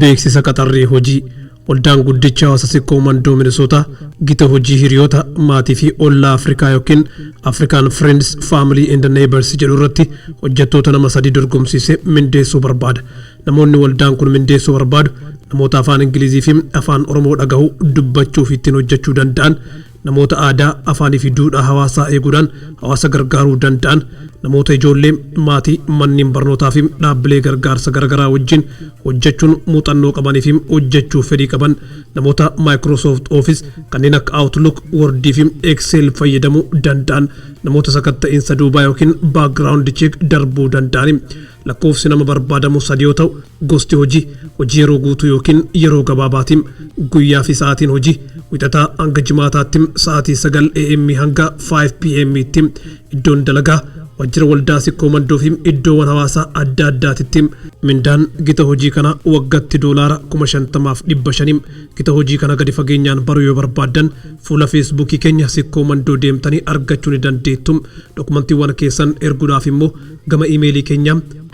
beeksisa qaxarrii hojii waldaan guddicha hawaasa sikkoo mandoo minisootaa gita hojii hiriyoota maatii fi ollaa afrikaa yookiin afrikaan friends family and neighbors jedhu irratti hojjettoota nama sadii dorgomsiisee mindeessuu barbaada namoonni waldaan kun mindeessuu barbaadu namoota afaan ingilizii fi afaan oromoo dhagahu dubbachuu fi ittiin hojjechuu danda'an Namoota aadaa, afaanii fi duudhaa hawaasaa eeguudhaan hawaasa gargaaruu danda'an, namoota ijoollee, maatii, manneen barnootaa fi dhaabbilee gargaarsa garagaraa wajjin hojjechuun muuxannoo qabanii fi hojjechuuf fedhii qaban, namoota Microsoft Office kanneen akka Outlook, Word fi Excel fayyadamuu danda'an, namoota sakatta'iinsa duubaa ykn background check darbuu danda'ani. Lakkoofsi nama barbaadamu sadi yoo ta'u, gosti hojii, hojii yeroo guutuu ykn yeroo gabaabaati. Guyyaa fi sa'aatiin hojii, Wixataa hanga Jimaataatti sa'aatii 9 AM hanga 5 PM tti. Iddoon dalagaa, Waajjira Waldaa Sikkoo Mandoo fi iddoowan hawaasaa adda addaatitti. Mindaan gita hojii kanaa waggatti doolaara 50,000 fi 500. Gita hojii kana gadi fageenyaan baruu yoo barbaaddan, fuula Feesbuukii keenya Sikkoo Mandoo deemtanii argachuu ni dandeettu. Dokumantiiwwan keessan erguudhaaf immoo, Gama iimeelii keenya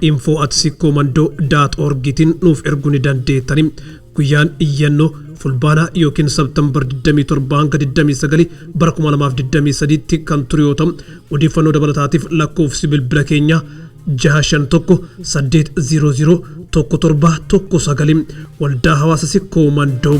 info at sikkoomando dot org tiin nuuf erguu ni dandeettani. Guyyaan iyyannoo Fulbaana ykn September 27-29 bara 2023 tti kan turu yoo ta'u, odeeffannoo dabalataatiif lakkoofsi bilbila keenyaa 651 800 1719 Waldaa Hawaasa Sikkoo Mandoo.